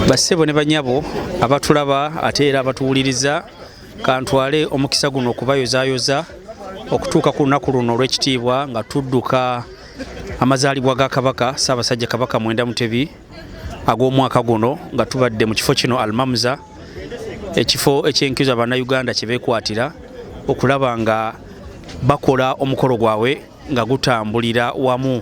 bassebo ne banyabo abatulaba ate era abatuwuliriza kantwale omukisa guno okubayozayoza okutuuka ku lunaku luno olw'ekitiibwa nga tudduka amazaalibwa ga kabaka ssaabasajja kabaka mwenda mutebi ag'omwaka guno nga tubadde mu kifo kino almamuza ekifo ekyenkizo abannayuganda kye beekwatira okulaba nga bakola omukolo gwabwe nga gutambulira wamu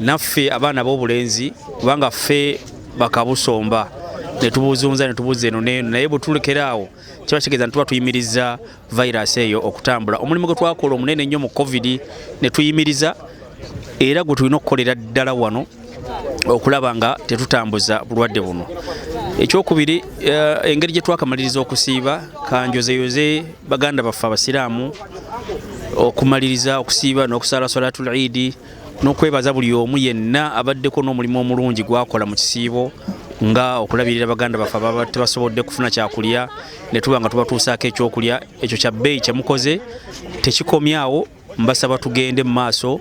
naffe abaana b'obulenzi kubanga ffe bakabusomba netubuzunza netubuza eno neeno naye bwetulekera awo kiba kitegeeza nituba tuyimiriza virus eyo okutambula omulimu gwe twakola omunene ennyo mu covid netuyimiriza era gwe tulina okukolera ddala wano okulaba nga tetutambuza bulwadde buno ekyokubiri eh, engeri gye twakamaliriza okusiiba kanjozeyoze baganda baffe abasiraamu okumaliriza okusiiba n'okusaala salatu lidi n'okwebaza buli omu yenna abaddeko n'omulimu omulungi gwakola mu kisiibo nga okulabirira baganda baffe ababa tebasobodde kufuna kyakulya ne tuba nga tubatuusaako ekyokulya ekyo kya bbeeyi kye mukoze tekikomyawo mbasaba tugende mu maaso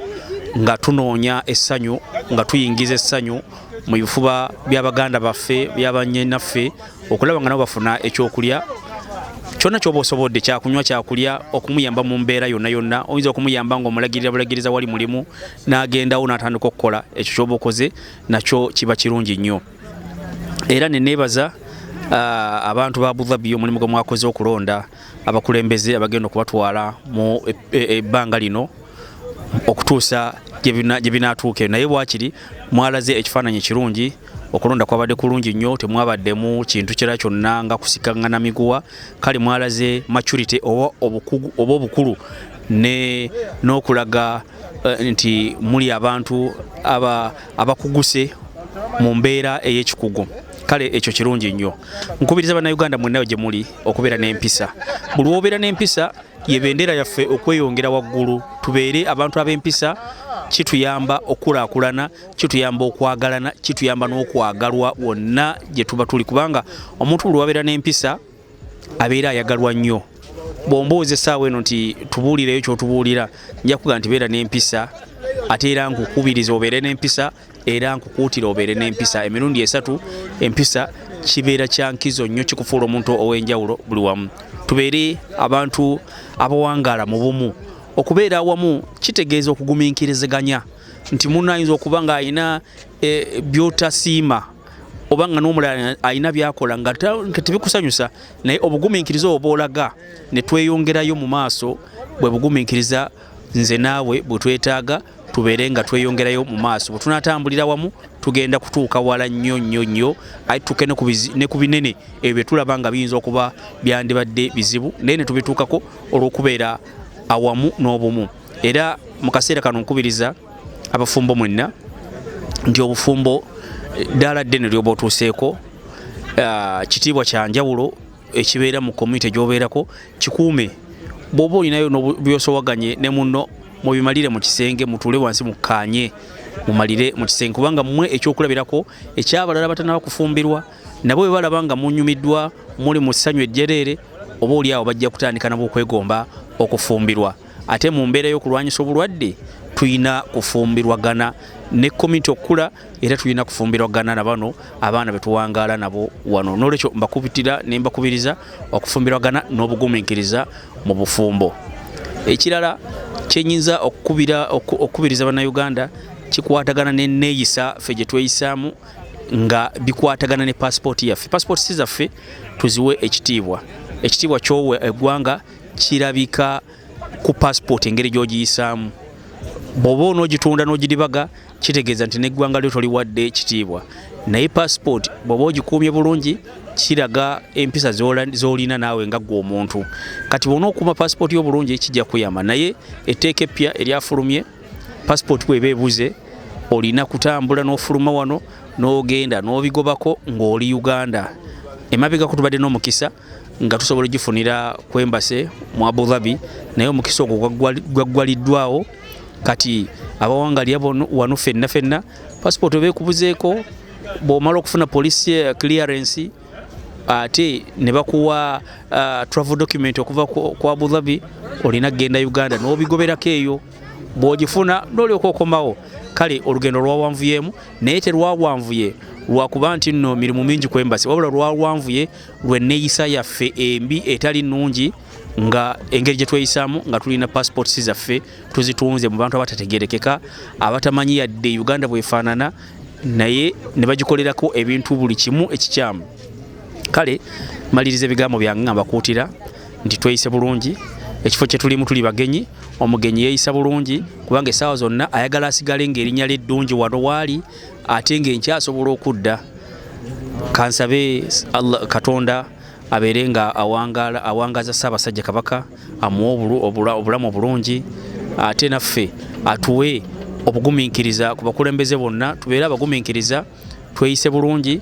nga tunoonya essanyu nga tuyingiza essanyu mu bifuba bya baganda baffe byabanyinaffe okulaba nga nabo bafuna ekyokulya kyonna kyoba osobodde kyakunywa kyakulya okumuyamba mu mbeera yonna yonna oyinza okumuyamba nga omulagirira bulagiriza wali mulimu n'agendawo n'atandika okukola ekyo kyoba okoze nakyo kiba kirungi nnyo era neneebaza uh, abantu ba budhabi omulimu gwe mwakoze okulonda abakulembeze abagenda okubatwala mu e, e, e, ebbanga lino okutuusa gye binaatuuke naye bwakiri mwalaze ekifaananyi ekirungi okulonda kwabadde kulungi nnyo temwabaddemu kintu kira kyonna nga kusikangana miguwa kale mwalaze maturity oba obukugu oba obukulu ne n'okulaga uh, nti muli abantu aba abakuguse mu mbeera ey'ekikugu kale ekyo kirungi nnyo nkubiriza bannayuganda mwenna gye muli okubeera n'empisa buli wobeera n'empisa ye bendera yaffe okweyongera waggulu tubeere abantu ab'empisa kituyamba okulaakulana kituyamba okwagalana kituyamba n'okwagalwa wonna gye tuba tuli kubanga omuntu buli wabeera n'empisa abeera ayagalwa nnyo bwombuuza essaawa eno nti tubuulireyo kyotubuulira nja kuga nti beera n'empisa ate era nkukubiriza obeere n'empisa era nkukuutira obeere n'empisa emirundi esatu empisa kibeera kyankizo nnyo kikufuula omuntu ow'enjawulo buli wamu tubeere abantu abawangaala mu bumu okubeera awamu kitegeeza okuguminkiriziganya nti munno ayinza okuba ng'alina e, byotasiima oba nga n'omulala alina byakola nga tebikusanyusa naye obugumiikiriza obwo bwolaga ne tweyongerayo mu maaso bwe bugumiikiriza nze naawe bwe twetaaga tubeere nga tweyongerayo mu maaso bwe tunatambulira wamu tugenda kutuuka wala nnyo nnyo nnyo aye tutuuke ne ku binene ebyo bye tulaba nga biyinza okuba byandibadde bizibu naye ne tubituukako olw'okubeera awamu n'obumu era mu kaseera kano nkubiriza abafumbo mwenna nti obufumbo eh, ddaala ddene lyoba otuuseeko ah, kitiibwa kya njawulo ekibeera mu komyunite gyobeerako kikuume bwoba olinayo nobyosowaganye ne munno mubimalire mu kisenge mutuule wansi mukkaanye mumalire mu kisenge kubanga mmwe ekyokulabirako ekyabalala batanaba kufumbirwa nabo bwe balaba nga munyumiddwa muli mu ssanyu ejjereere oba oli awo bajja kutandika nabo okwegomba okufumbirwa ate mu mbeera y'okulwanyisa obulwadde tulina kufumbirwagana ne komiti okukula era tulina kufumbirwagana na bano abaana betuwangaala nabo wano nolwekyo mbakubitira ne mbakubiriza okufumbirwagana n'obugumiikiriza mu bufumbo ekirala kyenyinza okukubira okukubiriza bannayuganda kikwatagana neneeyisa ffe gye tweyisaamu nga bikwatagana ne pasipooti yaffe pasipooti si zaffe tuziwe ekitiibwa ekitiibwa kyowa eggwanga kirabika ku passport engeri gyogiyisaamu bwoba onogitunda nogiribaga kitegeeza nti neggwanga lyo toliwadde ekitiibwa naye passport bwoba ogikuumye bulungi kiraga empisa zolina naawe nga gwe omuntu kati bona okuuma passport yo bulungi kijja kuyamba naye etteeka eppya eryafulumye passport bweba ebuze olina kutambula n'ofuluma wano n'ogenda n'obigobako ng'oli uganda emabegako tubadde n'omukisa nga tusobola ogifunira ku embase mu abu dhabi naye omukisa ogwo gwaggwaliddwawo kati abawangalya wano fenna fenna passport oba ekubuzeeko bwomala okufuna police eh, clearance ate ne bakuwa uh, travel document okuva ku abu dhabi olina kugenda uganda n'obigoberako eyo bw'ogifuna n'olyoka okomawo kale olugendo lwawanvuyeemu naye terwawanvuye lwakuba nti nno mirimu mingi ku embasi wabula lwawanvuye lw'enneeyisa yaffe embi etali nnungi nga engeri gye tweyisaamu nga tulina passports zaffe tuzitunze mu bantu abatategerekeka abatamanyi yadde uganda bwefaanana naye ne bagikolerako ebintu buli kimu ekikyamu kale maliriza ebigambo byange nga mbakuutira nti tweyise bulungi ekifo kye tulimu tuli bagenyi omugenyi yeeyisa bulungi kubanga essaawa zonna ayagala asigale ng'erinnya lye ddungi wano waali ate nga enkya asobola okudda kansabe katonda abeere nga awangaza ssaabasajja kabaka amuwe obulamu obulungi ate naffe atuwe obugumiikiriza ku bakulembeze bonna tubeere abagumiikiriza tweyise bulungi